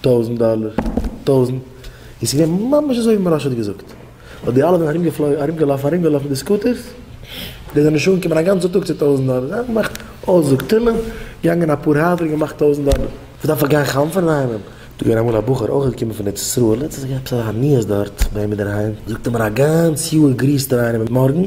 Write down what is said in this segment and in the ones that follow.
טויזנט דאלער, טויזנט, און ס'איז געווען ממש אזוי ווי מוהרא ש האט געזאגט, און די אלע זענען ארומגעפלויגן, ארומגעלאפן, ארומגעלאפן מיט די סקוטערס, די זענען נישט אנגעקומען א גאנצע טאג צו טויזנט דאלער, זיי האבן געמאכט אויסזאג, תהלים, געגאנגען אפאר הייזער און געמאכט טויזנט דאלער, וואס דארף איך גיין חנפ'ען אינאיינעם? דא געווען אמאל א בחור אויך געקומען פון ארץ ישראל, ער האט זיך געהאט עפעס א עניות דארט ביי אים אינדערהיים, זאגט ער מיר א גאנץ יאר גריסט ער איינעם אין מארגן,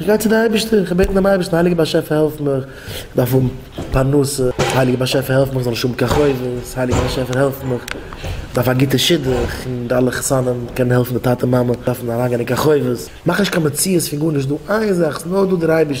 איך גיי צו די אייבערשטער, איך בעט דעם אייבערשטן, הייליגער באשעפער העלף מיך, איך דארף האבן פרנסה, הייליגער באשעפער העלף מיך איך זאל נישט האבן קיין חובות, הייליגער באשעפער העלף מיך, איך דארף א גוטע שידוך, און די אלע חתנים קענען העלפן די טאטע מאמע דארפן אריינגיין אין קיין חובות, מאך נישט קיין מציאות פון גארנישט, דא איין זאך, ס'נאר דא דער אייבערשטער.